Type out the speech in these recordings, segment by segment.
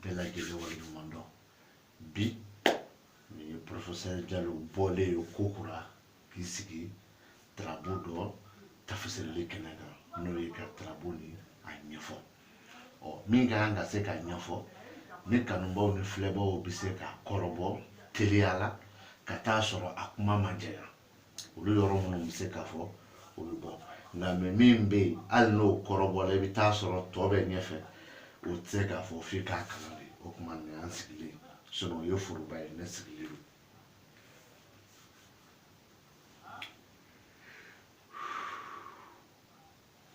bɛɛ lajɛlen waleɲuman dɔn bi nin ye porofesɛri jalo bɔlen ye kokura k'i sigi tarabu dɔ tafasirili kɛnɛ kan n'o ye ka tarabu ni a ɲɛfɔ ɔ min ka kan ka se k'a ɲɛfɔ ni kanubaaw ni filɛbaaw bɛ se k'a kɔrɔbɔ teliya la ka taa sɔrɔ a kuma ma jɛya olu yɔrɔ minnu bɛ se ka fɔ olu bɔ nka mɛ min bɛ yen hali n'o kɔrɔbɔla i bɛ taa sɔrɔ tɔ bɛ ɲɛfɛ o tɛ se ka fɔ f'i k'a kalan de o kuma nin an sigilen sinɔn o ye foroba ye ne sigilen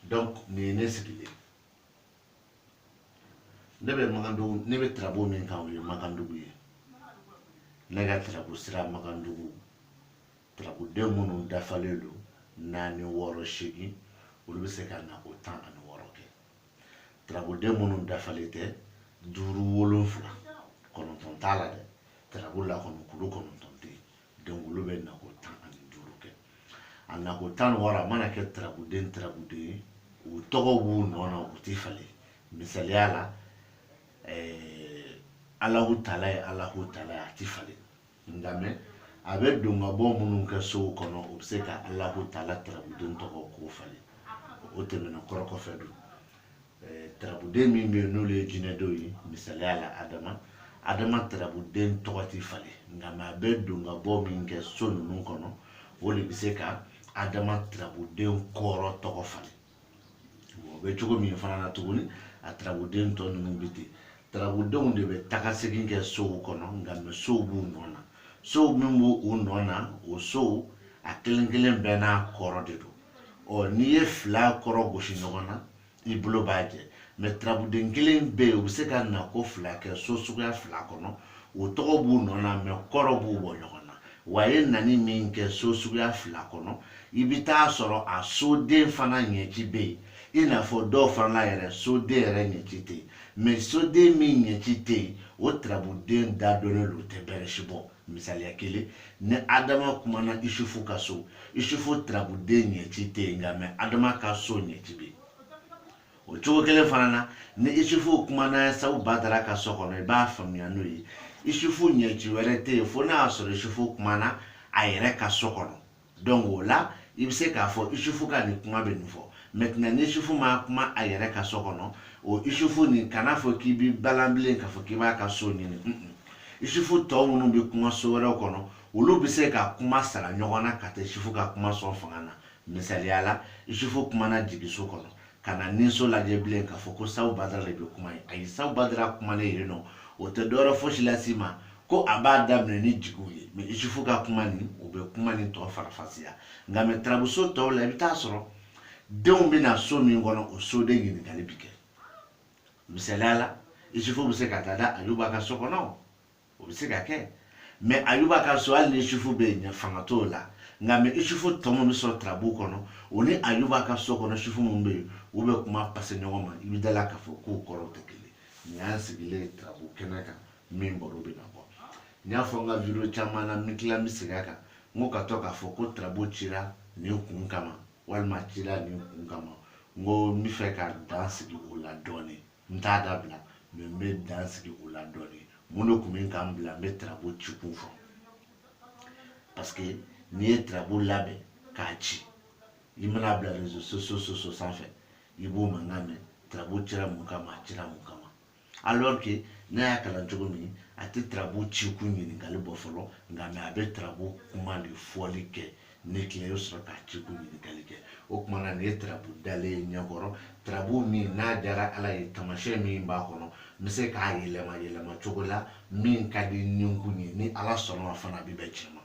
don donc nin ye ne sigilen ne bɛ makandugu ne bɛ tarabu min kan o ye makandugu ye ne ka tarabu sira makandugu tarabuden minnu dafalen don naani wɔɔrɔ seegin olu bɛ se ka nako tan ani wɔɔrɔ kɛ tarabuden minnu dafalen tɛ duuru wolonfila kɔnɔntɔn t'a la dɛ tarabu la kɔnɔ kulu kɔnɔntɔn tɛ yen donc olu bɛ nako tan ani duuru kɛ a nako tan ni wɔɔrɔ a mana kɛ tarabuden tarabuden ye u tɔgɔ b'u nɔ na u tɛ falen misaliya la eh, alahu taala ye alahu taala ye a tɛ falen nka mɛ a bɛ don ka bɔ minnu kɛ sow kɔnɔ u bɛ se ka alahu taala tarabuden tɔgɔ k'o falen o tɛmɛna kɔrɔ kɔfɛ don tarabuden min bɛ yen n'olu ye jinɛdenw ye misaliya la adama adama tarabuden tɔgɔ tɛ falen nka mɛ a bɛ don ka bɔ min kɛ so ninnu kɔnɔ o de bɛ se ka adama tarabuden kɔrɔ tɔgɔ falen o bɛ cogo min fana na tuguni a tarabuden tɔ ninnu bɛ ten tarabudenw de bɛ taakasegin kɛ sow kɔnɔ nka mɛ sow b'u nɔ na sow min b'u nɔ na o sow a kelen kelen bɛɛ n'a kɔrɔ de don ɔ n'i ye fila kɔrɔ gosi ɲɔgɔn na i bolo b'a jɛ mɛ turabuden kelen bɛ yen u bɛ se ka nako fila kɛ so suguya fila kɔnɔ o tɔgɔ b'u nɔ na mɛ kɔrɔ b'u bɔ ɲɔgɔn na wa ye nani min kɛ so suguya fila kɔnɔ i bɛ taa sɔrɔ a soden fana ɲɛci bɛ yen i n'a fɔ dɔw fana la yɛrɛ soden yɛrɛ ɲɛci tɛ yen mɛ soden min ɲɛci tɛ yen o turabuden dadɔnnen don o tɛ bɛrɛ si bɔ misaliya kelen ni adama kumana isufu ka so isufu tarabuden ɲɛci tɛ yen nka mɛ adama ka so ɲɛci bɛ yen o cogo kelen fana na ni isufu kumana sabu badara ka so kɔnɔ i b'a faamuya n'o ye isufu ɲɛci wɛrɛ tɛ yen fo n'a y'a sɔrɔ isufu kumana a yɛrɛ ka so kɔnɔ donc o la i bɛ se k'a fɔ isufu ka nin kuma bɛ nin fɔ maintenant ni isufu ma kuma a yɛrɛ ka so kɔnɔ o isufu nin kan'a fɔ k'i bɛ balan bilen k'a fɔ k'i b'a ka so ɲini isufu tɔ minnu bɛ kuma so wɛrɛw kɔnɔ olu bɛ se ka kuma sara ɲɔgɔn na ka taa isufu ka kuma sɔn fanga na misaliya la isufu kumana jigiso kɔnɔ kana ninso lajɛ bilen k'a fɔ ko sabu badara de bɛ kuma ayi sabu badara kumalen yen nɔ o tɛ dɔwɛrɛ fosi lase i ma ko a b'a daminɛ ni jigiw ye mɛ isufu ka kuma nin o bɛ kuma nin tɔ faranfasiya nka mɛ tarabuso tɔw la i bɛ t'a sɔrɔ denw bɛ na so min kɔnɔ o soden ɲininkali bɛ kɛ misaliya la isufu bɛ se ka taa da ayuba ka so kɔnɔ o bɛ se ka kɛ mɛ ayuba ka so hali ni isufu bɛ yen fanga t'o la nka mɛ isufu tɔ minnu bɛ sɔrɔ tarabu kɔnɔ o ni ayuba ka so kɔnɔ isufu minnu bɛ yen u bɛ kuma pase ɲɔgɔn ma i bɛ da a la k'a fɔ k'u kɔrɔw tɛ kelen nin y'an sigilen tarabu kɛnɛ kan min b'a rɔ bɛ na bɔ n y'a fɔ n ka video caman na n bɛ tila n bɛ segin a kan n ko ka to k'a fɔ ko tarabu cira nin kun kama walima cira nin kun kama n ko n bɛ fɛ ka dan sigi o la dɔɔnin n t'a dabila mɛ n bɛ dan sigi o la dɔɔni mun de tun bɛ ka n bila n bɛ tarabu ci kun fɔ parce que n'i ye tarabu labɛn k'a ci i mana bila réseaux sociaux sanfɛ i b'o mankan mɛn tarabu cira mun kama a cira mun kama alors que n'a y'a kalan cogo min a tɛ tarabu ci kun ɲininkali bɔ fɔlɔ nka mɛ a bɛ tarabu kuma de fɔli kɛ n'i tila i bɛ sɔrɔ ka ci kun ɲininkali kɛ o tuma na nin ye tarabu dalen ye ɲɛkɔrɔ tarabu min n'a diyara ala ye tamasiyɛn min b'a kɔnɔ n bɛ se k'a yɛlɛma yɛlɛma cogo la min ka di ninkun ye ni ala sɔnna fana a bɛ bɛn tiɲɛ ma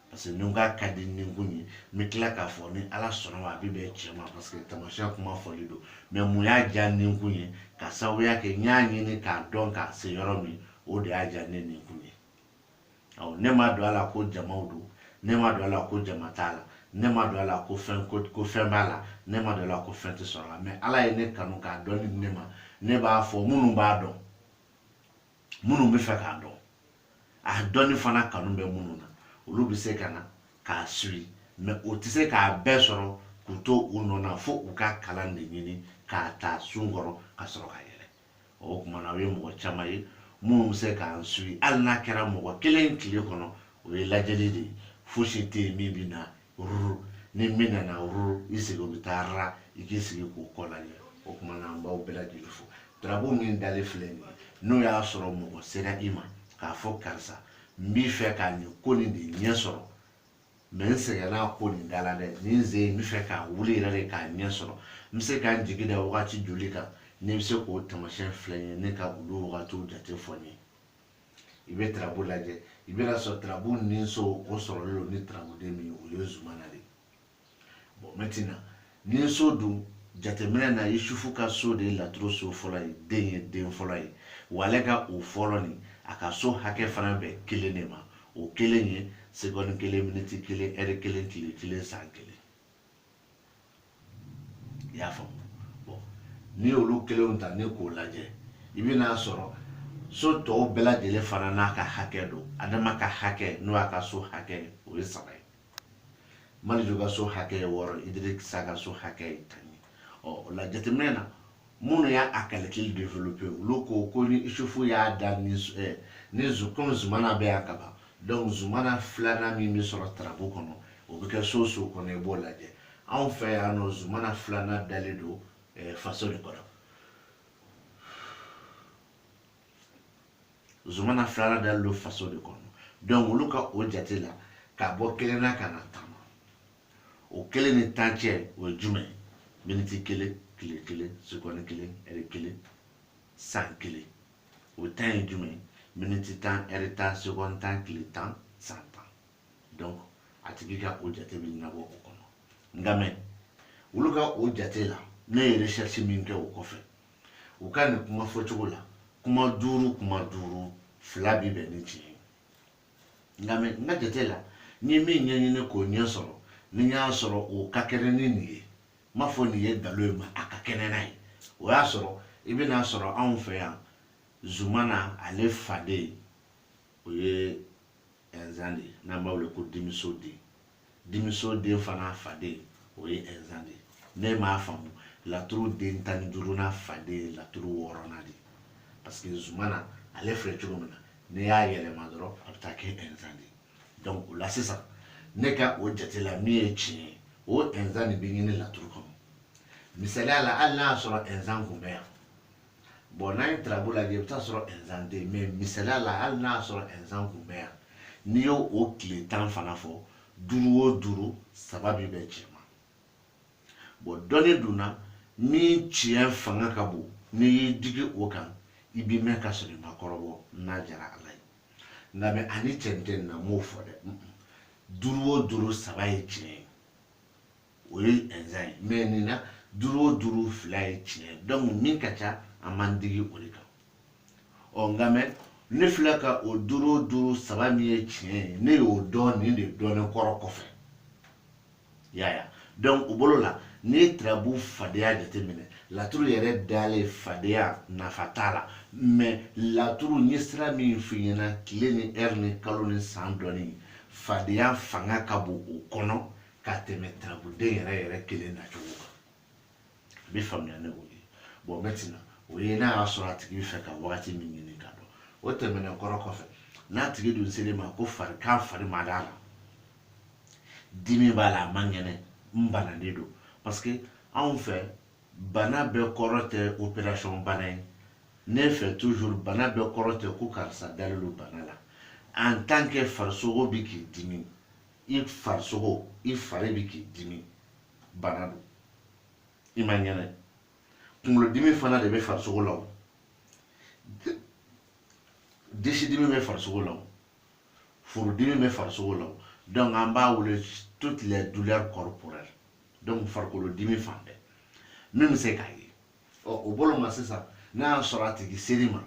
parce que ni n k'a ka di ninkun ye n bɛ tila k'a fɔ ni ala sɔnna a bɛ bɛn tiɲɛ ma parce que tamasiyɛn kuma fɔli don mɛ mun y'a diya ninkun ye ka sababuya kɛ n y'a ɲini k'a dɔn k'a se yɔrɔ min o de y'a diya ne ninkun ye awɔ ne ma don a la ko jamaw don ne ma don a la ko jama t'a la ne ma don a la ko fɛn ko ko fɛn b'a la ne ma don a la ko fɛn tɛ sɔrɔ a la mɛ ala ye ne kanu k'a dɔn ni ne ma ne b'a fɔ minnu b'a dɔn minnu bɛ fɛ k'a dɔn a dɔnni fana kanu bɛ minnu na olu bɛ se ka na k'an suivi mɛ o tɛ se k'a bɛɛ sɔrɔ k'u to u nɔ na fo u ka kalan de ɲini k'a ta sun kɔrɔ ka sɔrɔ ka yɛlɛ o kuma na o ye mɔgɔ caman ye minnu bɛ se k'an suivi hali n'a kɛra mɔgɔ kelen tile kɔnɔ o ye lajɛli de ye fosi tɛ yen min bɛ na ruru ni min nana ruru i sigi o bɛ taa ra i k'i sigi k'o kɔ lajɛ o kuma na an b'aw bɛɛ lajɛlen fo tarabu min dalen filɛ nin ye n'o y'a sɔrɔ mɔgɔ sera i ma k'a fɔ karisa n bɛ fɛ ka nin ko nin de ɲɛ sɔrɔ mɛ n sɛgɛnna a ko nin da la dɛ ni n se n bɛ fɛ ka wuli yɛrɛ de k'a ɲɛ sɔrɔ n bɛ se ka n jigi da wagati joli kan n'i bɛ se k'o tamasiyɛn filɛ n ye ne ka olu wagatiw jate fɔ n ye i bɛ tarabu lajɛ i bɛna sɔrɔ tarabu ninso o sɔrɔlen don ni tarabuden min o ye zumana de ye bon maintenant nin so dun jateminɛ na yusufu ka so de ye laturu so fɔlɔ ye den ye den fɔlɔ ye wa ale ka o fɔlɔ ni a ka so hakɛ fana bɛn kelen de ma o kelen ye segɔni kelen miniti kelen ɛri kelen tile kelen san kelen i y'a faamu bɔn n'i y'olu kelenw ta ni k'o lajɛ i bɛn'a sɔrɔ so tɔw bɛɛ lajɛlen fana n'a ka hakɛ don adama ka hakɛ n'o y'a ka so hakɛ o ye saba ye maliju ka so hakɛ ye wɔɔrɔ idirisa ka so hakɛ ye tan ye ɔ o la jateminɛ na minnu y'a a kalikili developpe olu ko ko ni isufu y'a da ni eh, ni komi zumana bɛ yan ka ban donc zumana filanan min bɛ sɔrɔ tarabu kɔnɔ o bɛ kɛ so so kɔnɔ i b'o lajɛ anw fɛ yan nɔ zumana filanan dalen don eh, faso de kɔnɔ zumana filanan dalen don faso de kɔnɔ donc olu ka o jate la ka bɔ kelen na ka na tan na o kelen ni tan cɛ o ye jumɛn ye miniti kelen tile kelen sekɔni kelen ɛri kelen san kelen o tan ye jumɛn ye miniti tan ɛri tan sekɔni tan tile tan san tan donc a tigi ka o jate bɛ ɲɛnabɔ o kɔnɔ nka mɛ olu ka o jate la ne ye recherche min kɛ o kɔfɛ u ka nin kuma fɔcogo la kuma duuru kuma duuru fila bi bɛn ni tiɲɛ ye nka mɛ n ka jate la n ye min ɲɛɲini k'o ɲɛ sɔrɔ ni n y'a sɔrɔ o ka kɛnɛ ni nin ye n m'a fɔ nin ye nkalon ye ma a ka kɛnɛ n'a ye o y'a sɔrɔ i bɛna sɔrɔ anw fɛ yan zumana ale faden o ye ɛnzan de n'an b'a wele ko dimiso den dimiso den fana faden o ye ɛnzan de n'i m'a faamu laturu den tan ni duurunan faden ye laturu wɔɔrɔnan de parce que zumana ale filɛ cogo min na n'i y'a yɛlɛma dɔrɔn a bɛ taa kɛ ɛnzan de donc o la sisan ne ka o jate la min ye tiɲɛ ye o ɛnzan de bɛ ɲini laturu kɔnɔ misaliya la hali n'a y'a sɔrɔ ɛnzan kun bɛ yan bɔn n'an ye tarabu lajɛ i bɛ t'a sɔrɔ ɛnzan tɛ mɛ misaliya la hali n'a y'a sɔrɔ ɛnzan kun bɛ yan n'i y'o o tile tan fana fɔ duuru o duuru saba bi bɛn cɛn ma bɔn dɔnni dun na min tiɲɛ fanga ka bon n'i y'i digi o kan i bi mɛn ka sɔrɔ i ma kɔrɔbɔ n'a jara ala ye nka mɛ ani cɛn tɛ nin na n m'o fɔ dɛ duuru o duuru saba ye tiɲɛ ye o ye ɛnzan ye mɛ nin na duuru o duuru fila ye tiɲɛ ye dɔnku min ka ca an b'an digi o de kan ɔ nka mɛ ne filɛ ka o duuru o duuru saba min ye tiɲɛ ye ne y'o dɔn nin de dɔnnen kɔrɔ kɔfɛ yaya dɔnku o bolo la n'i ye tirabu fadenya jateminɛ laturu yɛrɛ dalen fadenya nafa t'a la mɛ laturu n ye sira min f'i ɲɛna tile ni ɛri ni kalo ni san dɔnni fadenya fanga ka bon o kɔnɔ ka tɛmɛ tarabuden yɛrɛ yɛrɛ kelen nacogo kan a bɛ faamuya ne o ye bon maintenant o ye n'a y'a sɔrɔ a tigi bɛ fɛ ka wagati min ɲini ka dɔn o tɛmɛnen kɔrɔ kɔfɛ n'a tigi dun ser'i ma ko farigan fari ma d'a la dimi b'a la a man kɛnɛ n bananen don parce que anw fɛ bana bɛɛ kɔrɔ tɛ opération bana ye ne fɛ toujours bana bɛɛ kɔrɔ tɛ ko karisa dalen don bana la en tant que farisogo bɛ k'i dimi i farisogo i fari bɛ k'i dimi bana don i ma ɲɛnɛ kunkolodimi fana de bɛ farisogo la o disidimi bɛ farisogo la o furudimi bɛ farisogo la o donc an b'a wele toutes les douleurs corporelles donc farikolo dimi fan bɛɛ min bɛ se k'a ye ɔ o bolo ma sisan n'a y'a sɔrɔ a tigi ser'i ma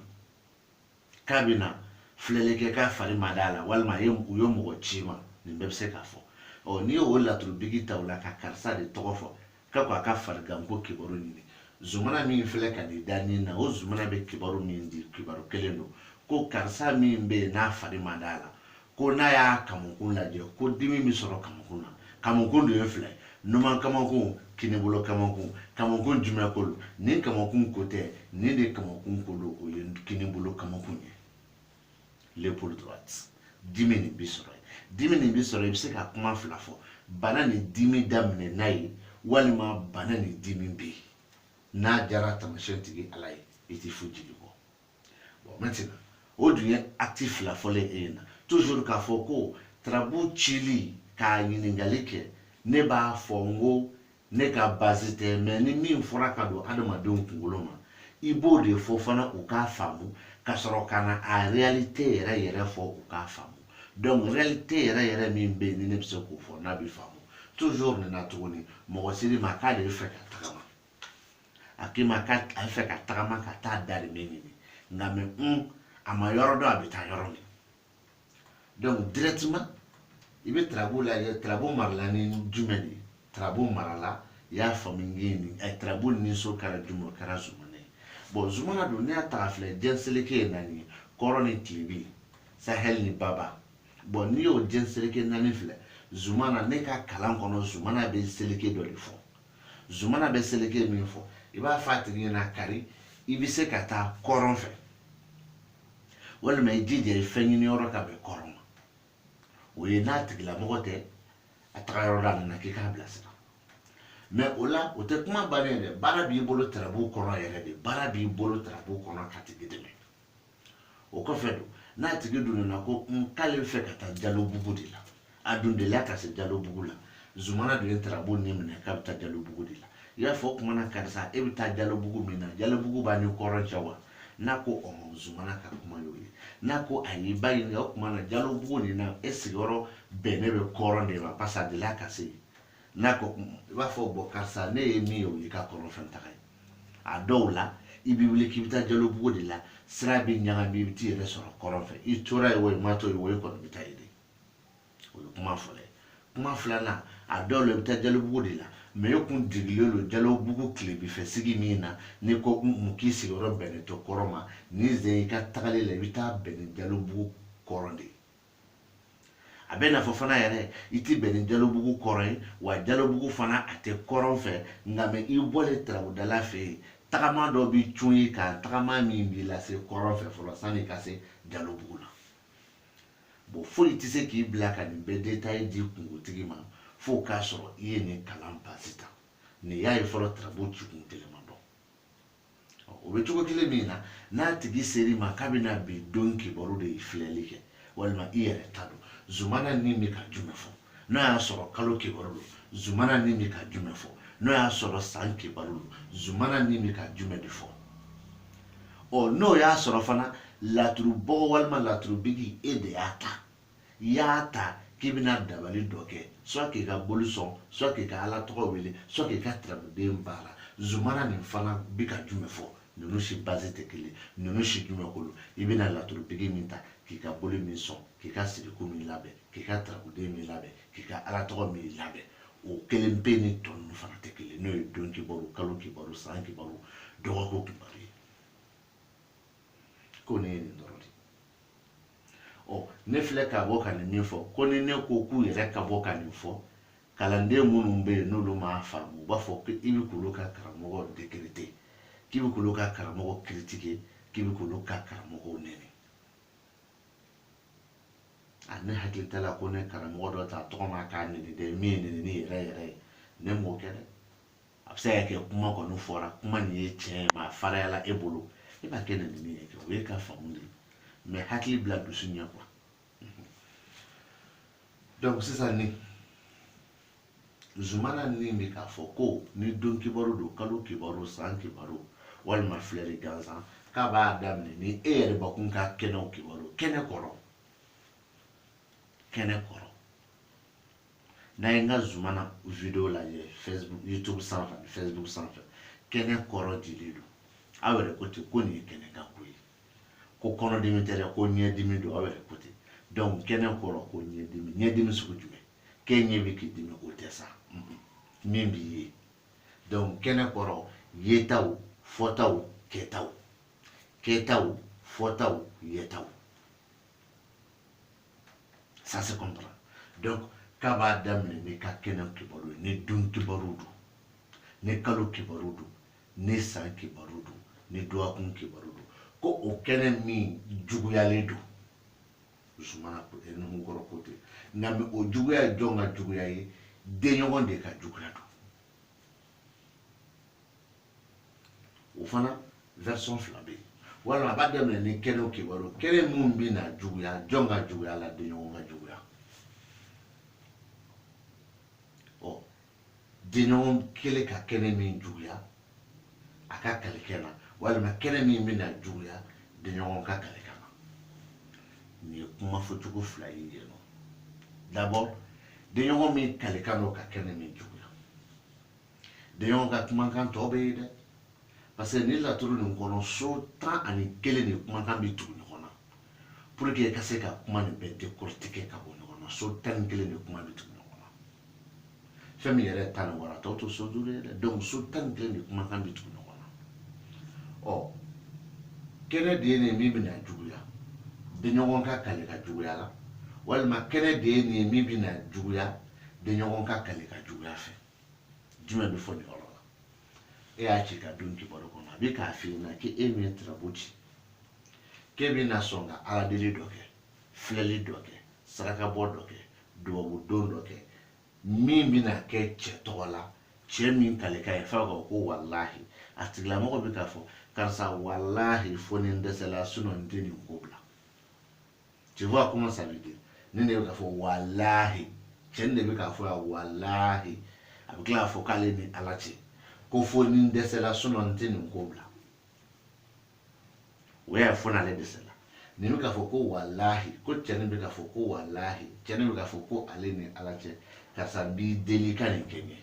k'a bɛ na filɛli kɛ k'a fari ma d'a la walima a ye u ye mɔgɔ c'i ma nin bɛɛ bɛ se k'a fɔ ɔ n'i y'o laturubigi ta o la ka karisa de tɔgɔ fɔ ka ko a ka fariganko kibaru ɲini zumana min filɛ ka n'i da nin na o zumana bɛ kibaru min di kibaru kelen don ko karisa min bɛ yen n'a fari ma d'a la ko n'a y'a kamakun lajɛ ko dimi bɛ sɔrɔ kamakun na kamakun de ye fila ye numan kamakun kinibolo kamakun kamakun jumɛn ko don nin kamakun ko tɛ nin de kamakun ko don o ye kinibolo kamakun ye l'épaule droite dimi nin bɛ sɔrɔ yen dimi nin bɛ sɔrɔ i bɛ se ka kuma fila fɔ bana ni dimi daminɛna yen walima bana ni dimi bɛ yen n'a jara taamasiyɛn tigi ala ye i tɛ foyi jigi kɔ bon maintenant o dun ye acte fila fɔlen e ɲɛna toujours k'a fɔ ko tarabu cili k'a ɲininkali kɛ ne b'a fɔ n ko ne ka base tɛ mais nin min fɔra ka don adamadenw kunkolo ma i b'o de fɔ fana u k'a faamu ka sɔrɔ ka na a réalité yɛrɛ yɛrɛ fɔ u k'a faamu donc réalité yɛrɛ yɛrɛ min bɛ yen ni ne bɛ se k'o fɔ n'a bɛ faamu toujours nin na tuguni mɔgɔ ser'i ma k'ale bɛ fɛ ka tagama a k'i ma k'a bɛ fɛ ka tagama ka taa darimɛ ɲini nka mais un a ma yɔrɔ dɔn a bɛ taa yɔrɔ min donc directement i bɛ tarabu lajɛ tarabu marala ni jumɛn de ye tarabu marala i y'a faamu nge ni ɛ eh, tarabu ni so kɛra jumɛn o kɛra zumana ye bon zumana don ne y'a ta ka filɛ jɛn seleke ye naani ye kɔrɔn ni tilebin sahɛli ni baba bon n'i y'o jɛn seleke naani filɛ zumana ne ka kalan kɔnɔ zumana bɛ seleke dɔ de fɔ zumana bɛ seleke min fɔ i b'a fɔ a tigi ɲɛna kari i bɛ se ka taa kɔrɔn fɛ walima i jija i fɛn ɲini yɔrɔ ka bɛn kɔrɔn ma o ye n'a tigilamɔgɔ tɛ a taga yɔrɔ dɔn a nana k'i k'a bila sira mais o la o tɛ kuma bannen ye dɛ baara b'i bolo tarabu kɔnɔ yɛrɛ de baara b'i bolo tarabu kɔnɔ k'a tigi dɛmɛ o kɔfɛ don n'a tigi dun nana ko k'ale fɛ ka taa jalobugu de la a dun delila ka se jalobugu la zumana dun ye tarabu ni minɛ k'a bɛ taa jalobugu de la i y'a fɔ o tuma na karisa e bɛ taa jalobugu min na jalobugu b'a ni kɔrɔn cɛ wa n'a ko ɔhɔn zumana ka kuma y'o ye n'a ko ayi i b'a ɲininka o tuma na jalobugu nin na e sigiyɔrɔ bɛnnen bɛ kɔrɔn de ma parce que a delila ka se yen n'a ko i b'a fɔ bɔn karisa ne ye min ye o y'i ka kɔrɔn fɛ taga ye a dɔw la i b'i wuli k'i bɛ taa jalobugu de la sira bɛ ɲagami i bɛ t'i yɛrɛ sɔrɔ kɔrɔn fɛ i tora yen o i ma to yen o i kɔni bɛ taa yen de o ye kuma fɔlɔ ye kuma filanan a dɔw la i bɛ taa jalobugu de la mais e kun digilen don jalobugu tilebinfɛ sigi min na n'i ko mun k'i sigiyɔrɔ bɛnnen tɛ kɔrɔn ma nin sen i ka tagali la i bɛ taa bɛn ni jalobugu kɔrɔn de ye a bɛna fɔ fana yɛrɛ i tɛ bɛn ni jalobugu kɔrɔn ye wa jalobugu fana a tɛ kɔrɔn fɛ nka mais i bɔlen tarabudala fɛ yen tagama dɔ bɛ cun i kan tagama min b'i lase kɔrɔn fɛ fɔlɔ sann'i ka se jalobugu la bon foyi tɛ se k'i bila ka nin bɛɛ détail di kunkotigi ma fo k'a sɔrɔ i ye nin kalan base ta n'i y'a ye fɔlɔ tarabu cikun kelen ma dɔn o bɛ cogo kelen min na n'a tigi ser'i ma k'a bɛna bi don kibaru de filɛli kɛ walima i yɛrɛ ta don zumana ni bɛ ka jumɛn fɔ n'o y'a sɔrɔ kalo kibaru don zumana ni bɛ ka jumɛn fɔ n'o y'a sɔrɔ san kibaru don zumana ni bɛ ka jumɛn de fɔ ɔ n'o y'a sɔrɔ fana laturubɔgɔ walima laturubigi e de y'a ta i y'a ta k'i bɛna dabali dɔ kɛ soit k'i ka boli sɔn soit k'i ka ala tɔgɔ wele soit k'i ka tarabuden baara zumana nin fana bɛ ka jumɛn fɔ ninnu si base tɛ kelen ninnu si jumɛn kolo i bɛna laturubigi min ta k'i ka boli min sɔn k'i ka siriku min labɛn k'i ka tarabuden min labɛn k'i ka ala tɔgɔ min labɛn o kelen pe ni tɔ ninnu fana tɛ kelen n'o ye don kibaru kalo kibaru san kibaru dɔgɔkun kibaru ye ko ne ye nin dɔrɔn de ɔ ne filɛ ka bɔ ka nin min fɔ ko ni ne ko k'u yɛrɛ ka bɔ ka nin fɔ kalanden minnu bɛ yen n'olu m'a faamu u b'a fɔ ko i bɛ k'olu ka karamɔgɔ dekirite k'i bɛ k'olu ka karamɔgɔ critiquer k'i bɛ k'olu ka karamɔgɔw nɛni a ne hakili t'a la ko ne karamɔgɔ dɔ ta tɔgɔ ma k'a nɛni dɛ min ye nɛnini yɛrɛ yɛrɛ ye ne m'o kɛ dɛ a bɛ se ka kɛ kuma kɔni fɔra kuma nin ye tiɲɛ ye mais a farinyala e bolo e b'a kɛ nɛnini ye kɛ o y'e ka faamu de ye mais hakili bila dusu ɲɛ quoi donc sisan ni zumana ni bɛ k'a fɔ ko ni don kibaru don kalo kibaru san kibaru walima filɛli gansan k'a b'a daminɛ ni e yɛrɛ bakun ka kɛnɛw kibaru kɛnɛ kɔrɔ kɛnɛ kɔrɔ n'a ye n ka zumana video lajɛ facebook youtube sanfɛ ani facebook sanfɛ kɛnɛ kɔrɔ dilen don aw yɛrɛ ko ten ko nin ye kɛnɛ ka ko ye ko kɔnɔdimi tɛ dɛ ko ɲɛdimi don aw yɛrɛ ko ten donc kɛnɛ kɔrɔ ko ɲɛdimi ɲɛdimi sugu jumɛn k'e ɲɛ bɛ k'i dimi o tɛ sa min b'i ye donc kɛnɛ kɔrɔ yetaw fɔtaw kɛtaw kɛtaw fɔtaw yetaw ça se comprend donc k'a b'a daminɛ n'i ka kɛnɛ kibaru ye ni don kibaru don ni kalo kibaru don ni san kibaru don ni dɔgɔkun kibaru don ko o kɛnɛ min juguyalen don zumana nuhukɔrɔ ko ten nka o juguya ye jɔn ka juguya ye denɲɔgɔn de ka juguya don o fana version fila bɛ yen walima a b'a daminɛ ni kɛnɛw kibaru kɛnɛ min bɛ na juguya jɔn ka juguya la denɲɔgɔn ka juguya ɔ denɲɔgɔn kelen ka kɛnɛ min juguya a ka kalikan na walima kɛnɛ min bɛna juguya denɲɔgɔn ka kalikan na nin ye kuma fɔcogo fila ye yen nɔ d'abord denɲɔgɔn min kalikan don ka kɛnɛ min juguya denɲɔgɔn ka kumakan tɔ bɛ yen dɛ parce que ni laturu nin kɔnɔ so tan ani kelen de kumakan bɛ tugu ɲɔgɔn na pour que ka se ka kuma nin bɛɛ décortiquer ka bɔ ɲɔgɔn na so tan ni kelen de kuma bɛ tugu fɛn min yɛrɛ tan ni wɔɔrɔ tɔ to so duuru ye dɛ donc so tan ni kelen de kumakan bɛ tugu ɲɔgɔn na ɔ kɛnɛ de ye nin min bɛna juguya denɲɔgɔn ka kalikan juguya la walima kɛnɛ de ye nin min bɛna juguya denɲɔgɔn ka kalikan juguya fɛ jumɛn bɛ fɔ nin yɔrɔ la e y'a ci ka don kibaru kɔnɔ a bɛ k'a f'i ɲɛna k'e min ye turabu ci k'e bɛna sɔn ka ala deli dɔ kɛ filɛli dɔ kɛ sarakabɔ dɔ kɛ dubabu don dɔ kɛ min bɛna kɛ cɛ tɔgɔ la cɛ min kalikan ye f'a ka ko walahi a tigilamɔgɔ bɛ k'a fɔ karisa walahi fo ni n dɛsɛla sinɔn n tɛ nin ko bila tu vois comment ça veut dire nin de bɛ k'a fɔ walahi cɛ nin de bɛ k'a fɔ yan walahi a bɛ tila k'a fɔ k'ale ni ala cɛ ko fo ni n dɛsɛla sinɔn n tɛ nin ko bila o y'a ye fo n'ale dɛsɛla nin bɛ k'a fɔ ko walahi ko cɛnin bɛ k'a fɔ ko walahi cɛnin bɛ k'a fɔ ko ale ni ala cɛ karisa n b'i deli ka nin kɛ n ye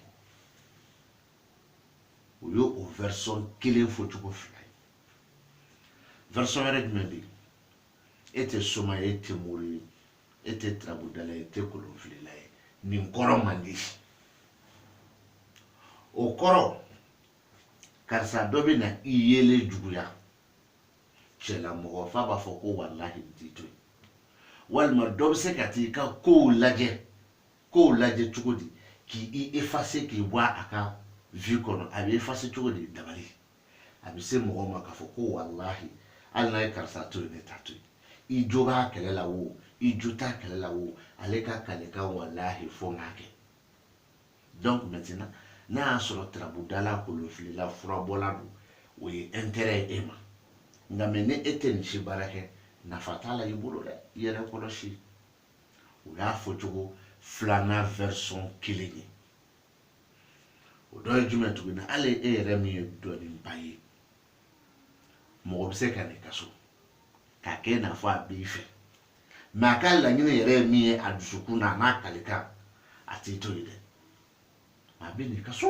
o ye o version kelen fɔcogo fila ye version wɛrɛ jumɛn bɛ yen e tɛ soma ye e tɛ mori ye e tɛ turabudala ye e tɛ kolonfilila ye nin kɔrɔ man di o kɔrɔ karisa dɔ bɛ na i yeelen juguya cɛla mɔgɔ f'a b'a fɔ ko walahi n t'i to yen walima dɔ bɛ se ka t'i ka kow lajɛ cogo di k'i effacer k'i bɔ a ka vie kɔnɔ a bɛ effacer cogo di dabali a bɛ se mɔgɔ ma k'a fɔ ko walahi hali n'a ye karisa to yen ne t'a to yen i jo b'a kɛlɛ la wo i jo t'a kɛlɛ la wo ale ka kalikan walahi fo n k'a kɛ donc maintenant n'a y'a sɔrɔ turabudala kolonfilila furabɔla don o ye intérêt ye e ma nka mɛ ni e tɛ nin si baara kɛ nafa t'a la i bolo dɛ i yɛrɛ kɔlɔsi o y'a fɔcogo filanan version kelen ye o dɔ ye jumɛn tuguni hali e yɛrɛ min ye dɔnniba ye mɔgɔ bɛ se ka na i ka so k'a kɛ i n'a fɔ a b'i fɛ mɛ a ka laɲini yɛrɛ ye min ye a dusukun na a n'a kalikan a t'i to yen dɛ a bɛ na i ka so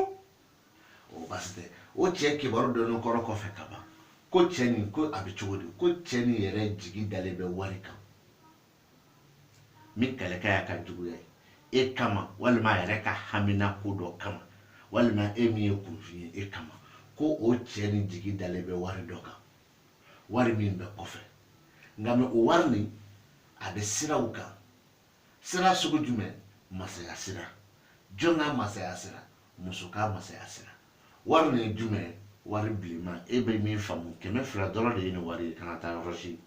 o baasi tɛ o cɛ kibaru dɔɔni kɔrɔ kɔfɛ ka ban ko cɛ nin ko a bɛ cogo di ko cɛ nin yɛrɛ jigi dalen bɛ wari kan min kalikan y'a ka juguya ye e kama walima a yɛrɛ ka hamina ko dɔ kama walima e min ye kunfin ye e kama ko o cɛ ni jigi dalen bɛ wari dɔ kan wari min bɛ kɔfɛ nka mɛ o wari nin a bɛ sira kan sira sugu jumɛn masaya sira jɔn ka masaya sira muso ka masaya sira wari nin ye jumɛn wari bilenman e bɛ min faamu kɛmɛ fila dɔrɔn de ye nin wari ye kana taa yɔrɔ si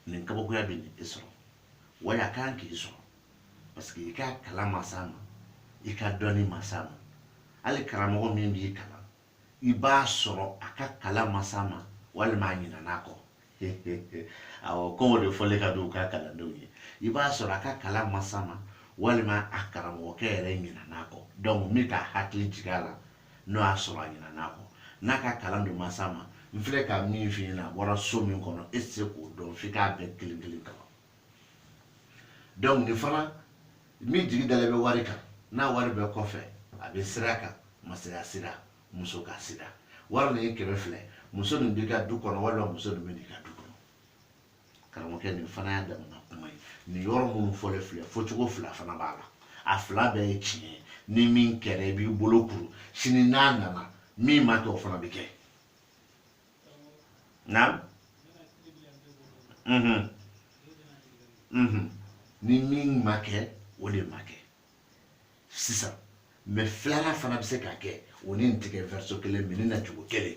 nin kabakoya bɛ na e sɔrɔ wa a kan k'i sɔrɔ parce que i ka kalan ma s'a ma i ka dɔnni ma s'a ma hali karamɔgɔ min b'i kalan i b'a sɔrɔ a ka kalan ma s'a ma walima a ɲinan'a kɔ awɔ kɔngɔ de fɔlen ka di u ka kalandenw ye i b'a sɔrɔ a ka kalan ma s'a ma walima a karamɔgɔkɛ yɛrɛ ɲinan'a kɔ donc min ka hakili jigin a la n'o y'a sɔrɔ a ɲinan'a kɔ n'a ka kalan dun ma s'a ma n filɛ ka min f'i ɲɛna a bɔra so min kɔnɔ e tɛ se k'o dɔn f'i k'a bɛɛ kelen kelen kalan donc nin fana min jigi dalen bɛ wari kan n'a wari bɛ kɔfɛ a bɛ sira kan masaya sira muso ka sira wari nin ye kɛmɛ fila muso nin b'i ka du kɔnɔ walima muso nin bɛ n'i ka du kɔnɔ karamɔgɔkɛ nin fana y'a damana kuma ye nin yɔrɔ minnu fɔlen filɛ fɔcogo fila fana b'a la a fila bɛɛ ye tiɲɛ ye ni min kɛra i b'i bolo kuru sini n'a nana min ma kɛ o fana bɛ kɛ na ni min ma kɛ o de ma kɛ sisan mɛ filanan fana bɛ se ka kɛ o ni nin tɛ kɛ version kelen mɛ ni na cogo kelen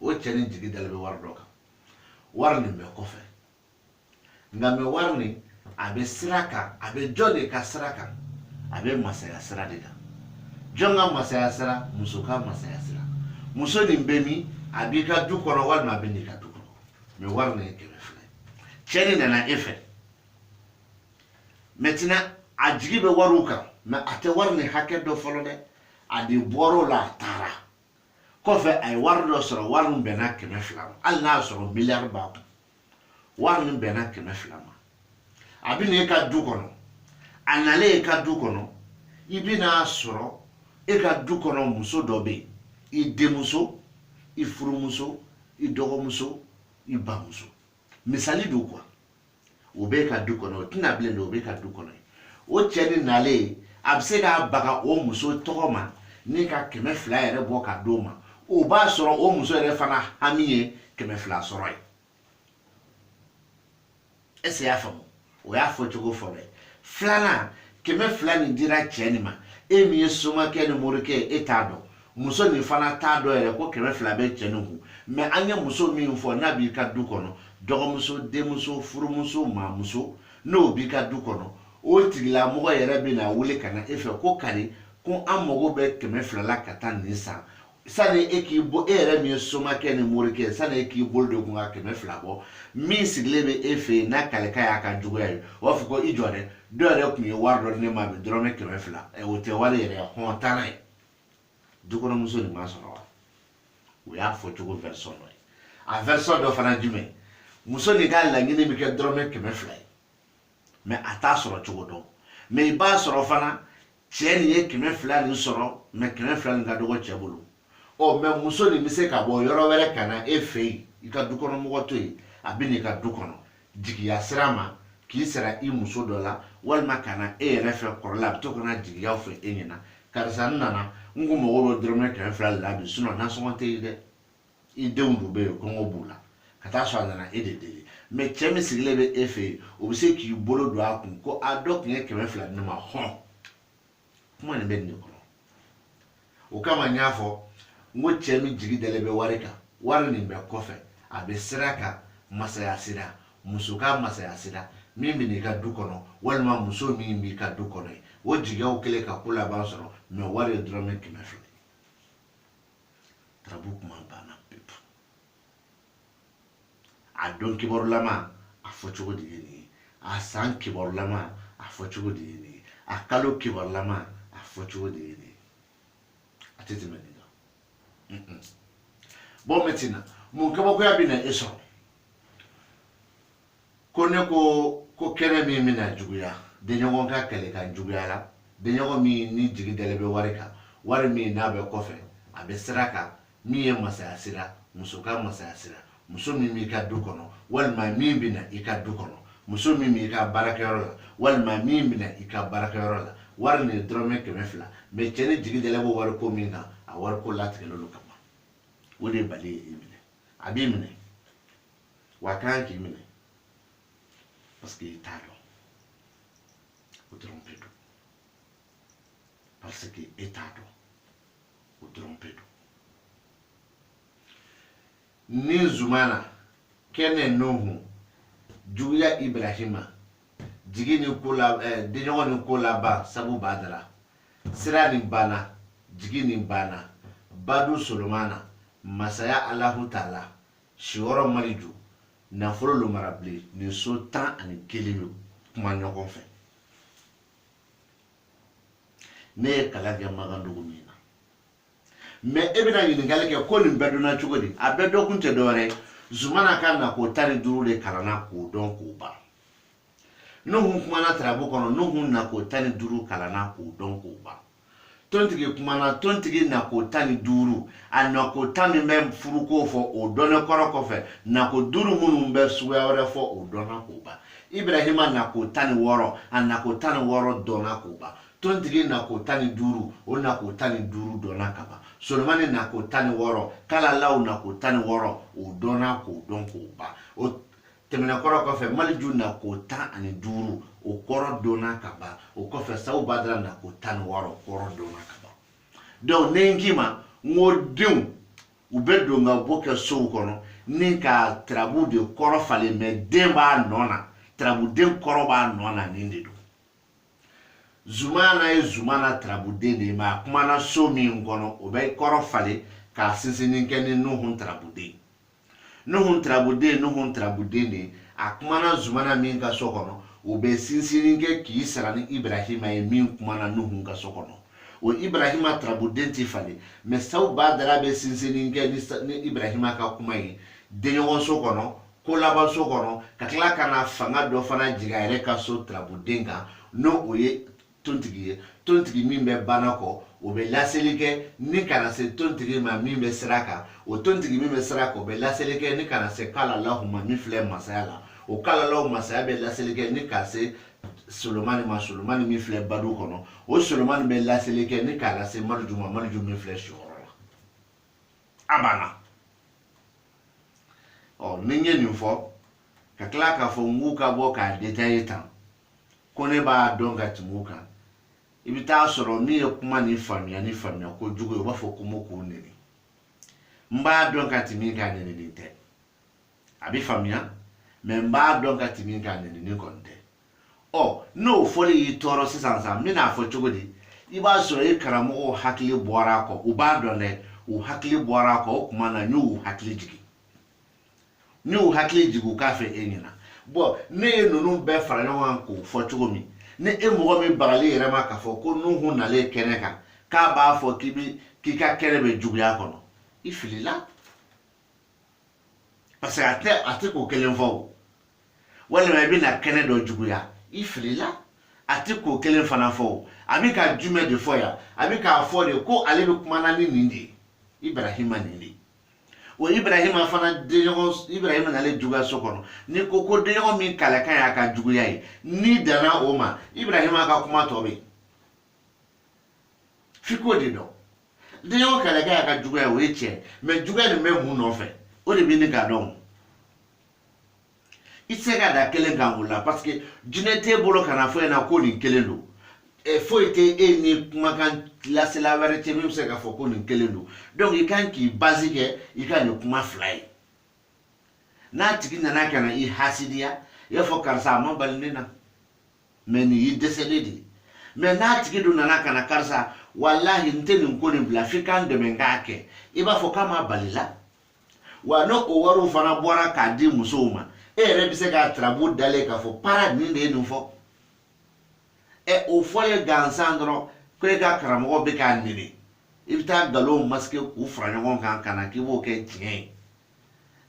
o cɛ ni jigi dalen bɛ wari dɔ kan wari nin bɛ kɔfɛ nka mɛ wari nin a bɛ sira kan a bɛ jɔn de ka sira kan a bɛ masaya sira de kan jɔn ka masaya sira muso ka masaya sira muso nin bɛ min a b'i ka du kɔnɔ walima a bɛ n'i ka du kɔnɔ mɛ wari nin ye kɛmɛ fila ye cɛ nin nana e fɛ maintenant a jigi bɛ wariw kan mɛ a tɛ wari nin hakɛ dɔn fɔlɔ dɛ a de bɔr'o la a taara kɔfɛ a ye wari dɔ sɔrɔ wari min bɛnna kɛmɛ fila ma hali n'a y'a sɔrɔ miliyari b'a kun wari min bɛnna kɛmɛ fila ma a bɛ na e ka du kɔnɔ a nalen e ka du kɔnɔ i bɛ n'a sɔrɔ e ka du kɔnɔ muso dɔ bɛ yen i denmuso i furumuso i dɔgɔmuso i bamuso misali don quoi o b'e ka du kɔnɔ o tɛ na bilen dɛ o b'e ka du kɔnɔ o cɛ ni nalen a bɛ se k'a baga o muso tɔgɔ ma ni ka kɛmɛ fila yɛrɛ bɔ ka d'o ma o b'a sɔrɔ o muso yɛrɛ fana hami ye kɛmɛ fila sɔrɔ ye est-ce que y'a faamu o y'a fɔ cogo fɔlɔ ye filanan kɛmɛ fila nin dira cɛ nin ma e min ye somakɛ ni morikɛ e t'a dɔn muso nin fana t'a dɔn yɛrɛ ko kɛmɛ fila bɛ cɛ nin kun mɛ an ye muso min fɔ n'a b'i ka du kɔnɔ dɔgɔmuso denmuso furumuso maamuso n'o b'i ka du kɔnɔ o tigilamɔgɔ yɛrɛ bɛna wuli ka na e fɛ ko kari ko an mago bɛ kɛmɛ fila la ka taa nin san sani e k'i bɔ e yɛrɛ min ye somakɛ ni morikɛ sani e k'i bolo don e kun ka kɛmɛ fila bɔ min sigilen bɛ e fɛ yen n'a kaleka y'a ka juguya ye o b'a fɔ ko i jɔ dɛ dɔ yɛrɛ tun ye wari dɔ di ne ma bi dɔrɔmɛ kɛmɛ fila o tɛ wari yɛrɛ ye hɔn taa n'a ye dukɔnɔmuso nin m'a sɔrɔ wa o y'a fɔ cogo version dɔ ye a version dɔ fana jumɛn muso nin ka laɲini bɛ kɛ dɔrɔmɛ kɛmɛ fila ye mɛ a t'a sɔrɔ cogo dɔn mɛ i b'a sɔrɔ fana cɛ nin ye kɛmɛ fila nin sɔrɔ mɛ kɛmɛ fila nin ka dɔgɔ cɛ bolo ɔ mɛ muso nin bɛ se ka bɔ yɔrɔ wɛrɛ ka na e fɛ yen i ka dukɔnɔmɔgɔ to yen a bɛ n'i ka du kɔnɔ jigiya sira ma k'i sara i muso dɔ la walima ka na e yɛrɛ fɛ kɔrɔla a bɛ to ka na jigiyaw fɔ e ɲɛna karisa n nana n ko n mago bɛ dɔrɔmɛ kɛmɛ fila de la bi sinon nasɔngɔ tɛ yen dɛ i denw dun bɛ yen kɔngɔ b'u la ka taa sɔrɔ a nana e de deli mɛ cɛ min sigilen bɛ e fɛ yen o bɛ se k'i bolo don a kun ko a dɔ tun ye kɛmɛ fila di ne ma hɔn kuma nin bɛ nin de kɔnɔ o kama n y'a fɔ n ko cɛ min jigi dalen bɛ wari kan wari nin bɛ kɔfɛ a bɛ sira kan masaya sira muso ka masaya sira min bɛ n'i ka du kɔnɔ walima muso min b'i ka du kɔnɔ ye o jigiyaw kɛlen ka ko laban sɔrɔ mɛ wari ye dɔrɔmɛ kɛmɛ fila ye turabu kuma banna pewu a don kibarulama a fɔcogo de ye nin ye a san kibarulama a fɔcogo de ye nin ye a kalo kibarulama a fɔcogo de ye nin ye a tɛ tɛmɛ nin kan bon maintenant mun kabakoya bɛ na e sɔrɔ ko ne ko kɛnɛ min bɛna juguya denɲɔgɔn ka kɛlɛ ka juguya la denɲɔgɔn min ni jigi dalen bɛ wari kan wari min n'a bɛ kɔfɛ a bɛ sira kan min ye masaya sira muso ka masaya sira muso min b'i ka du kɔnɔ walima min bɛna i ka du kɔnɔ muso min b'i ka baarakɛyɔrɔ la walima min bɛna i ka baarakɛyɔrɔ la wari nin ye dɔrɔmɛ kɛmɛ fila mais cɛ ni jigi dalen bɛ wari ko min kan a wari ko latigɛlen don ka ban o de ye bali ye i minɛ a b'i minɛ wa a kan k'i minɛ parce que i t'a dɔn o dɔrɔn pe don parce que e t'a dɔn o dɔrɔn pe don ni zumana kɛnɛ nuhu juguya ibrahima jigi ni ko la ɛɛ eh, denɲɔgɔn ni kolaban sabu badara sira ni bana jigi ni bana badu solomana masaya alahu taala siyɔrɔ maliju nafolo lomara bilen nin so tan ani kelen bɛ kuma ɲɔgɔn fɛ ne ye kalan kɛ magandugu min na mais e bɛna ɲininkali kɛ ko nin bɛɛ dɔnna cogo di a bɛɛ dɔnkun tɛ dɔwɛrɛ ye zumana ka nako tan ni duuru de kalanna k'o dɔn k'o ban nuhun kumana tarabu kɔnɔ nuhun nako tan ni duuru kalanna k'o dɔn k'o ban tontigi kumana tontigi nako tan ni duuru a nako tan min bɛ furuko fɔ o dɔnnen kɔrɔ kɔfɛ nako duuru minnu bɛ suguya wɛrɛ fɔ o dɔnna k'o ban ibrahima nako tan ni wɔɔrɔ a nako tan ni wɔɔrɔ dɔnna k'o ban tontigi nako tan ni duuru o nako tan ni duuru dɔnna ka ban solomani nako tan ni wɔɔrɔ kalalaw nako tan ni wɔɔrɔ o dɔnna k'o dɔn k'o ban tɛmɛnen kɔrɔ kɔfɛ maliju nako tan ani duuru o kɔrɔ dɔnna ka ban o kɔfɛ sabu badara nako tan ni wɔɔrɔ kɔrɔ dɔnna ka ban donc ne n k'i ma n ko denw u bɛ don ka bɔ kɛ sow kɔnɔ ni ka tarabuden kɔrɔ falen mais den b'a nɔ na tarabuden kɔrɔ b'a nɔ na nin de don zumana ye zumana tarabuden de ye mais a kumana so min kɔnɔ o bɛ kɔrɔ falen k'a sinsinni kɛ ni nuhun tarabuden nuhun tirabuden nuhun tirabuden de a kumana zumana min ka so kɔnɔ o bɛ sinsinni kɛ k'i sara ni ibrahima ye min kumana nuhun ka so kɔnɔ o ibrahima tirabuden ti falen mais saw badara bɛ sinsinni kɛ ni ibrahima ka kuma ye denɲɔgɔnso kɔnɔ kolabanso kɔnɔ ka tila ka na fanga dɔ fana jigin a yɛrɛ ka so tirabuden kan n'o o ye tontigi ye tontigi min bɛ bana kɔ o bɛ laseli kɛ ni kana se tontigi ma min bɛ sira kan o tontigi min bɛ sira kan o bɛ laseli kɛ ni kana se kalalaw ma min filɛ masaya la o kalalaw masaya bɛ laseli kɛ ni ka se solomani ma solomani min filɛ badu kɔnɔ o solomani bɛ laseli kɛ ni k'a lase mariju ma mariju min filɛ siyɔrɔ la a banna ɔ ni n ye nin fɔ ka tila k'a fɔ n k'u ka bɔ k'a detaye tan ko ne b'a dɔn ka tɛmɛ u kan i bɛ t'a sɔrɔ min ye kuma nin faamuya ni faamuya kojugu ye u b'a fɔ ko mo k'u neni n b'a dɔn ka tɛmɛ i kan nenini tɛ a bɛ faamuya mɛ n b'a dɔn ka tɛmɛ i kan nenini kɔni tɛ ɔ n'o fɔli y'i tɔɔrɔ sisan sa n bɛna a fɔ cogo di i b'a sɔrɔ i karamɔgɔw hakili bɔra a kɔ u b'a dɔn dɛ u hakili bɔra a kɔ o tuma na n y'u hakili jigin n y'u hakili jigin u k'a fɔ e ɲɛna bɔn ne ye ninnu bɛɛ fara ɲɔgɔn kan k'o fɔ cogo min ni e mɔgɔ min bagali yɛrɛ ma k'a fɔ ko nuhu nalen kɛnɛ kan k'a b'a fɔ k'i bi k'i ka kɛnɛ bɛ juguya kɔnɔ i filila parce que a tɛ a tɛ k'o kelen fɔ o walima i bɛna kɛnɛ dɔ juguya i filila a tɛ k'o kelen fana fɔ o a bɛ ka jumɛn de fɔ yan a bɛ k'a fɔ de ko ale bɛ kumana ni nin de ye ibrahima nin de ye o ibrahima fana ibrahima nalen juguya so kɔnɔ ni ko ko denɲɔgɔn min kalakan y'a ka juguya ye n'i danna o ma ibrahima ka kuma tɔ bɛ f'i k'o de don denɲɔgɔn kalakan y'a ka juguya o ye tiɲɛ mɛ juguya nin bɛ mun nɔfɛ o de bɛ ɲini k'a dɔn i tɛ se ka da kelen kan o la parce que jinɛ t'e bolo ka na fɔ e ɲɛna ko nin kelen don e, foyi tɛ e ni kumakan lasela wɛrɛ cɛ min bɛ se k'a fɔ ko nin kelen don donc i kan k'i bazi kɛ i ka nin kuma fila ye n'a tigi nana ka na i hasidiya i b'a fɔ karisa a ma bali ne na mɛ nin y'i dɛsɛlen de ye mɛ n'a tigi dun nana ka na karisa walahi n tɛ nin ko nin bila f'i ka n dɛmɛ n k'a kɛ i b'a fɔ k'a ma bali la wa n'o wariw fana bɔra k'a di musow ma e yɛrɛ bɛ se k'a turabu dalen k'a fɔ para nin de ye nin fɔ ɛ o fɔlen gansan dɔrɔn ko e ka karamɔgɔ bɛ k'a nɛni i bɛ taa nkalonw masike k'u fara ɲɔgɔn kan ka na k'i b'o kɛ tiɲɛ ye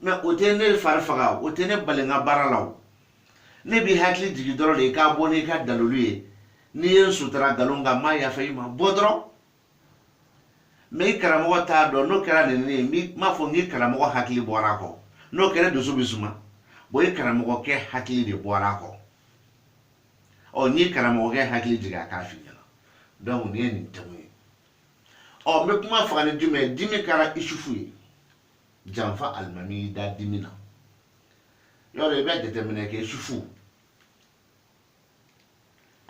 mɛ o tɛ ne fari faga o tɛ ne bali n ka baara la o ne b'i hakili jigin dɔrɔn de i ka bɔ n'i ka dalilu ye n'i ye n sutura nkalon kan n m'a yafa i ma bɔ dɔrɔn mɛ i karamɔgɔ t'a dɔn n'o kɛra neni ye n m'a fɔ n k'i karamɔgɔ hakili bɔra a kɔ n'o kɛra dusu bɛ suma bɔn i karamɔgɔkɛ hakili de bɔra a kɔ ɔ n'i karamɔgɔkɛ hakili jigin a k'a f'i ɲɛna dɔnku nin ye nin tɛmu ye ɔ n bɛ kuma faga ni jumɛn ye dimi kɛra isufu ye janfa alimami y'i da dimi na yɔrɔ i bɛ jateminɛ kɛ isufu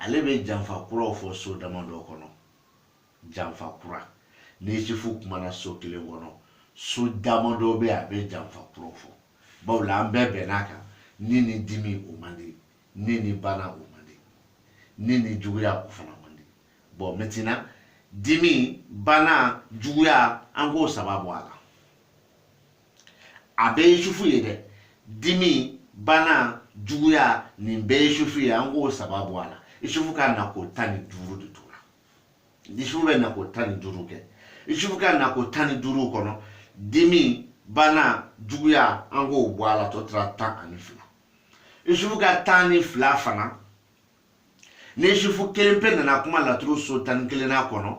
ale bɛ janfa kuraw fɔ so damadɔ kɔnɔ janfa kura ni isufu kumana so kelen kɔnɔ so damadɔ bɛ a bɛ janfa kuraw fɔ bawo la an bɛɛ bɛnn'a kan ni ni dimi o man di ni ni bana o man di ni ni juguya o fana man di bon maintenant dimi bana juguya an k'o saba bɔ a la a bɛɛ ye isufu ye dɛ dimi bana juguya nin bɛɛ ye isufu ye an k'o saba bɔ a la isufu ka na ko tan ni duuru de tora isufu bɛ na ko tan ni duuru kɛ isufu ka na ko tan ni duuru kɔnɔ dimi bana juguya an k'o bɔ a la tɔ tora tan ani fila isufu ka tan ni fila fana ni isufu kelen pe nana kuma laturu so tan ni kelenna kɔnɔ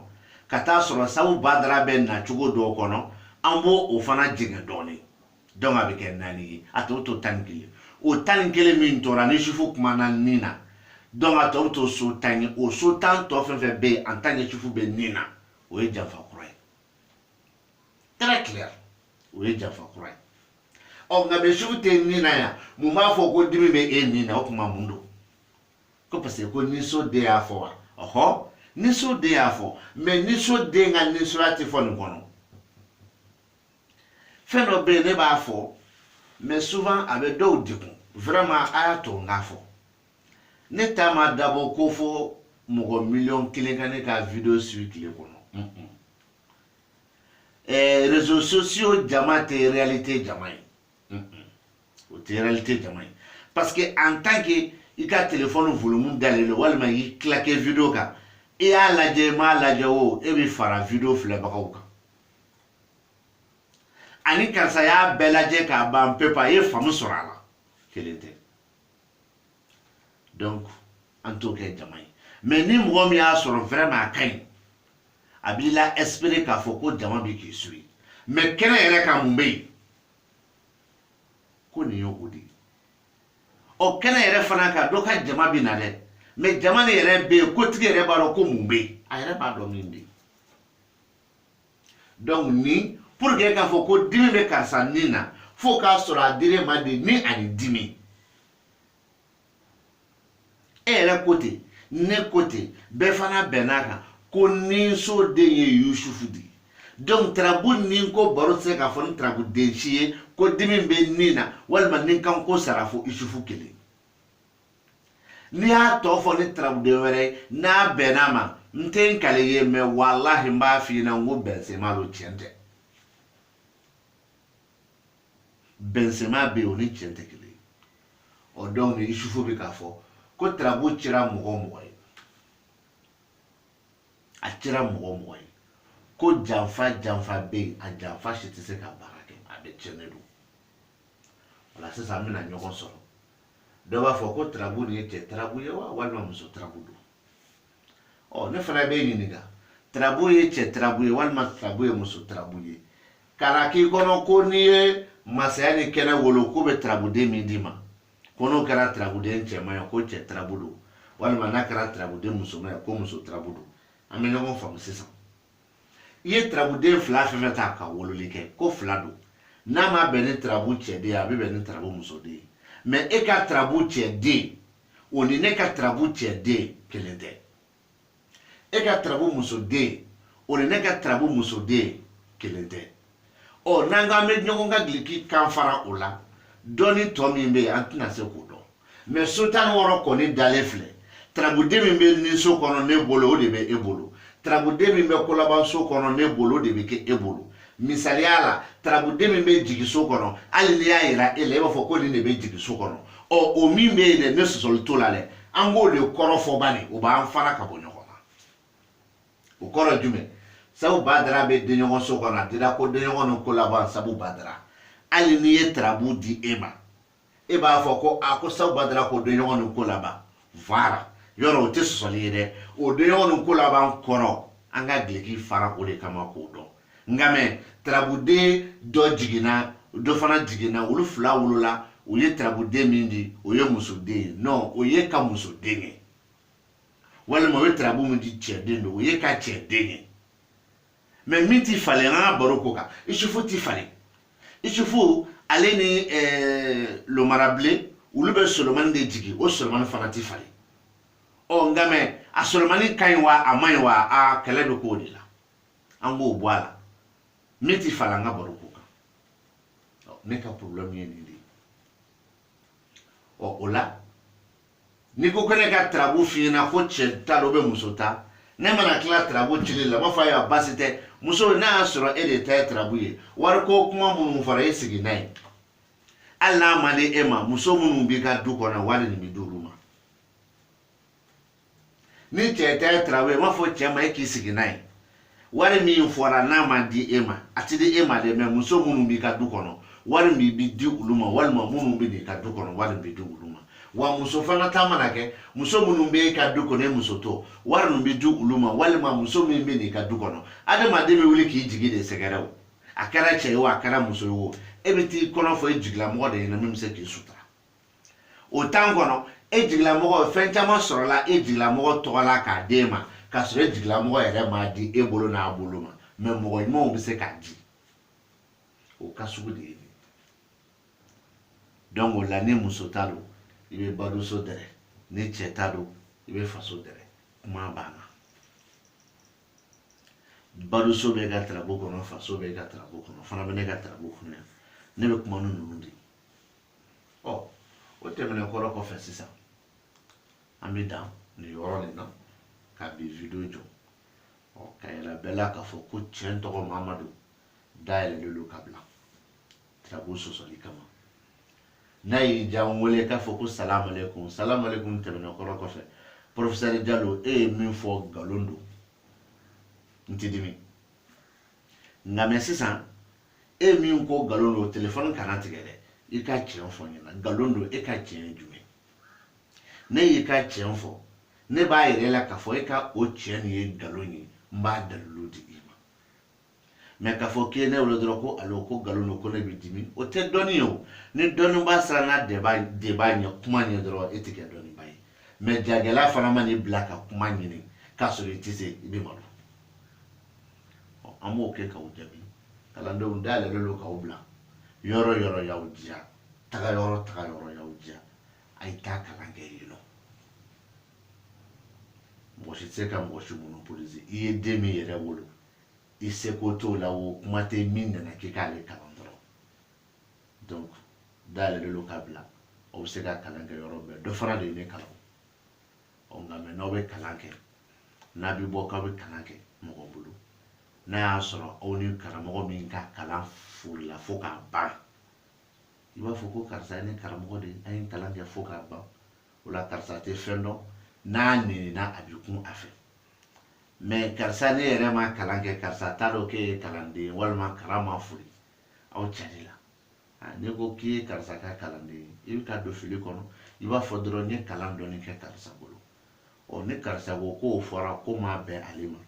ka t'a sɔrɔ sabu badara bɛ na cogo dɔw kɔnɔ an b'o o fana jɛngɛ dɔɔni donc a bɛ kɛ naani ye a tɔ to tan ni kelen o tan ni kelen min tora ni isufu kumana ni na donc a tɔ bɛ to so tan ye o so tan tɔ fɛn fɛn bɛ yen en tant que isufu bɛ ni na o ye janfa kura ye très clair o ye janfa kura ye ɔ nka bɛ sufu tɛ nin na yan mun b'a fɔ ko dimi bɛ e nin na o kuma mun don ko parce que ko niso den y'a fɔ wa ɔhɔ niso den y'a fɔ mais niso den ka nisoya tɛ fɔ nin kɔnɔ fɛn dɔ bɛ yen ne b'a fɔ mais souvent a bɛ dɔw degun vraiment a y'a to n k'a fɔ ne ta ma dabɔ ko fɔ mɔgɔ miliyɔn kelen ka ne ka video suivi tile kɔnɔ réseaux sociaux jama tɛ réalité jama ye o tɛ réalité jama ye parce que en tant que i ka telefɔni volumu dalen don walima y'i kilake video kan i y'a lajɛ i m'a lajɛ o e bɛ fara video filɛbagaw kan ani karisa y'a bɛɛ lajɛ k'a ban pewu a ye faamu sɔrɔ a la kelen tɛ donc an t'o kɛ jama ye mais ni mɔgɔ min y'a sɔrɔ vraiment a ka ɲi a b'i la espérer k'a fɔ ko jama bɛ k'i suit mais kɛnɛ yɛrɛ kan mun bɛ yen ko nin y'o de ye ɔ kɛnɛ yɛrɛ fana kan dɔ ka jama bɛ na dɛ mais jama nin yɛrɛ bɛ yen kotigi yɛrɛ b'a dɔn ko mun bɛ yen a yɛrɛ b'a dɔn min bɛ yen donc ni pour que k'a fɔ ko dimi bɛ karisa ni na fo k'a sɔrɔ a dir'e ma de ni ani dimi e yɛrɛ ko ten ne ko ten bɛɛ fana bɛnn'a kan ko ninso den ye yusufu de ye donc tarabu nin ko baro tɛ se k'a fɔ ni tarabu den si ye ko dimi bɛ nin na walima ni kan ko sara fo yusufu kelen n'i y'a tɔ fɔ ni tarabuden wɛrɛ ye n'a bɛnn'a ma n tɛ n kale ye mais walahi n b'a f'i ɲɛna n ko bɛnsenma don tiɲɛ tɛ bɛnsenma bɛ yen o ni cɛn tɛ kelen ye ɔ donc ni Isufu bɛ k'a fɔ ko tarabu cira mɔgɔ mɔgɔ ye a cira mɔgɔ mɔgɔ ye ko janfa janfa bɛ yen a janfa si tɛ se ka baara kɛ a bɛɛ tiɲɛnen don o la sisan an bɛna ɲɔgɔn sɔrɔ dɔ b'a fɔ ko tarabu nin ye cɛ tarabu ye wa walima muso tarabu don ɔ ne fana bɛ ɲininka tarabu ye cɛ tarabu ye walima tarabu ye muso tarabu ye kana k'i kɔnɔ ko n'i ye masaya ni kɛnɛ wolo k'o bɛ tarabuden min d'i ma ko n'o kɛra tarabuden cɛman ye ko cɛ tarabu don walima n'a kɛra tarabuden musoman ye ko muso tarabu don an bɛ ɲɔgɔn faamu sisan i ye tarabuden fila fɛn fɛn ta ka wololi kɛ ko fila don n'a ma bɛn ni tarabu cɛden ye a bɛ bɛn ni tarabu musoden ye mais e ka tarabu cɛden o ni ne ka tarabu cɛden kelen tɛ e ka tarabu musoden o ni ne ka tarabu musoden kelen tɛ ɔ n'an k'an bɛ ɲɔgɔn ka giliki kan fara o la dɔɔni tɔ min bɛ yen an tɛna se k'o dɔn mais so tan ni wɔɔrɔ kɔni dalen filɛ tarabuden min bɛ ni so kɔnɔ ne bolo o de bɛ e bolo tarabuden min bɛ kolaban so kɔnɔ ne bolo o de bɛ kɛ e bolo misaliya la tarabuden min bɛ jigi so kɔnɔ hali n'i y'a yira e la e b'a fɔ ko nin de bɛ jigi so kɔnɔ ɔ o min bɛ yen dɛ ne sɔsɔli t'o la dɛ an k'o de kɔrɔ fɔ bani o b'an fara ka bɔ ɲɔgɔn na o kɔrɔ jumɛn sabu badara bɛ denɲɔgɔn so kɔnɔ a dira ko denɲɔgɔn ni kolaban sabu badara hali n'i ye tarabu di e ma e b'a fɔ ko a ko sabu badara ko denɲɔgɔn ni kolaban voilà yɔrɔ o tɛ sɔsɔli ye dɛ o denɲɔgɔn ni kolaban kɔrɔ an ka gileki fara o de kama k'o dɔn nka mais tarabuden dɔ jiginna dɔ fana jiginna olu fila wolola u ye tarabuden min di o ye musoden ye non o y'e ka musoden ye walima u ye tarabu min di cɛden don o y'e ka cɛden ye mais min t'i falen an ka baro ko kan isufu t'i falen isufu ale ni eh, lomarabilen olu bɛ solomani de jigin o solomani fana t'i falen ɔ nka mais a solomani ka ɲi wa a man ɲi wa a kɛlɛ bɛ k'o de la an b'o bɔ a la min t'i falen an ka baro ko kan ne ka problème ye nin de ye ɔ o la n'i ko ko ne ka tarabu f'i ɲɛna ko cɛ ta don wa muso ta ne mana tila tarabu cili la n b'a fɔ ayiwa baasi tɛ muso n'a y'a sɔrɔ e de ta ye tarabu ye wariko kuma minnu fɔra e sigi n'a ye hali n'a ma di e ma muso minnu b'i ka du kɔnɔ wari nin bɛ d'olu ma ni cɛ ta ye tarabu ye n b'a fɔ cɛ ma e k'i sigi n'a ye wari min fɔra n'a ma di e ma a ti di e ma dɛ mɛ muso minnu b'i ka du kɔnɔ wari min bi di olu ma walima minnu bɛ n'i ka du kɔnɔ wari bi di olu ma wa muso fana ta mana kɛ muso minnu bɛ e ka du kɔnɔ e muso to wari min bɛ di olu ma walima muso min bɛ n'i ka du kɔnɔ adamaden bɛ wuli k'i jigi de sɛgɛrɛ o a kɛra cɛ ye o a kɛra muso ye o e bɛ t'i kɔnɔ fɔ e jigilamɔgɔ de ɲɛna min bɛ se k'i sutura o tan kɔnɔ e jigilamɔgɔ fɛn caman sɔrɔla e jigilamɔgɔ tɔgɔ la k'a d'e ma k'a sɔrɔ e jigilamɔgɔ yɛrɛ m'a di e bolo n'a bolo ma mɛ mɔgɔ ɲumanw bɛ se k'a di o ka sugu de ye donc o la ni muso ta don i bɛ baduso dɛrɛ ni cɛ ta don i bɛ faso dɛrɛ kuma banna baduso bɛ ka tarabu kɔnɔ faso bɛ ka tarabu kɔnɔ fana bɛ ne ka tarabu kɔnɔ yan ne bɛ kuma ni ninnu de ye ɔ o tɛmɛnen kɔrɔ kɔfɛ sisan an bɛ dan nin yɔrɔ nin na ka bi video jɔ ɔ k'a yira bɛɛ la k'a fɔ ko tiɲɛ tɔgɔ mamadu dayɛlɛlen don ka bila tarabu sɔsɔli kama n'a y'i diya n wele k'a fɔ ko salamalekun salamalekun tɛmɛnen kɔrɔ kɔfɛ porofesɛri jalo e ye min fɔ nkalon don n ti dimi nka mɛ sisan e min ko nkalon don telefɔni kana tigɛ dɛ i ka tiɲɛ fɔ n ɲɛna nkalon don e ka tiɲɛ ye jumɛn ne y'i ka tiɲɛ fɔ ne b'a yir'i la k'a fɔ e ka o tiɲɛ nin ye nkalon ye n b'a dalilu di i ma mɛ k'a fɔ k'i ye ne wele dɔrɔn ko alo ko nkalon don ko ne bɛ dimi o tɛ dɔnni ye o ni dɔnnibaa siranna débat ɲɛ kuma ɲɛ dɔrɔn e tɛ kɛ dɔnnibaa ye mɛ jagɛlɛya fana man'i bila ka kuma ɲini k'a sɔrɔ i tɛ se i bɛ malo ɔ an b'o kɛ k'aw jaabi kalandenw dayɛlɛlen don k'aw bila yɔrɔ yɔrɔ y'aw diya taga yɔrɔ taga yɔrɔ y'aw diya a ye taa kalan kɛ yen nɔ mɔgɔ si tɛ se ka mɔgɔ si monopolise i ye den min yɛrɛ wolo i seko t'o la o kuma tɛ min nana k'i k'ale kalan dɔrɔn donc dayɛlɛlen don ka bila aw bɛ se ka kalan kɛ yɔrɔ bɛɛ dɔ fana de ye ne kalan ɔ nka mɛ n'aw bɛ kalan kɛ n'a bɛ bɔ k'aw bɛ kalan kɛ mɔgɔ bolo n'a y'a sɔrɔ aw ni karamɔgɔ min ka kalan foorila fo k'a ban i b'a fɔ ko karisa ye ne karamɔgɔ de an ye kalan kɛ fo k'a ban o la karisa tɛ fɛn dɔn n'a nenina a bɛ kun a fɛ mɛ karisa ne yɛrɛ ma kalan kɛ karisa t'a dɔn k'e ye kalanden ye walima kalan ma foori aw carila n'i ko k'i ye karisa ka kalanden ye i bɛ ka don fili kɔnɔ i b'a fɔ dɔrɔn n ye kalan dɔɔni kɛ karisa bolo ɔ ni karisa ko k'o fɔra k'o ma bɛn ale ma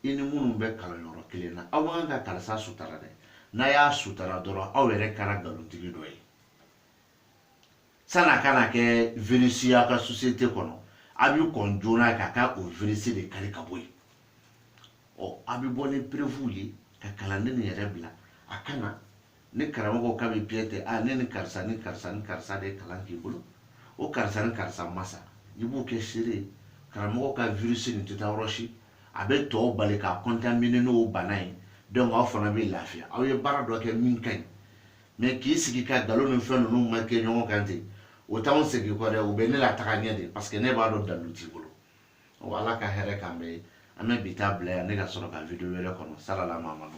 i ni minnu bɛ kalanyɔrɔ kelen na aw man kan ka karisa sutara dɛ n'a y'a sutara dɔrɔn aw yɛrɛ kɛra nkalontigi dɔ ye san'a kana kɛ virus y'a ka société kɔnɔ a bɛ kɔn joona ka taa o virus de kari ka bɔ yen ɔ a bɛ bɔ ni preuve ye ka kalanden nin yɛrɛ bila a ka na ni karamɔgɔ ka bi piye tɛ a ne ni karisa ni karisa ni karisa de ye kalan k'i bolo o karisa ni karisa masa i b'u kɛ seere ye karamɔgɔ ka virus nin tɛ taa yɔrɔ si a bɛ tɔw bali ka contaminer n'o bana ye donc aw fana bɛ lafiya aw ye baara dɔ kɛ min ka ɲi mais k'i sigi ka nkalon ni fɛn ninnu marquer ɲɔgɔn kan ten o t'anw segin kɔ dɛ o bɛ ne lataga ɲɛ de parce que ne b'a dɔn dalu t'i bolo wa ala ka hɛrɛ k'an bɛɛ ye an bɛ bi taa bila yan ne ka sɔrɔ ka video wɛrɛ kɔnɔ salala mamadu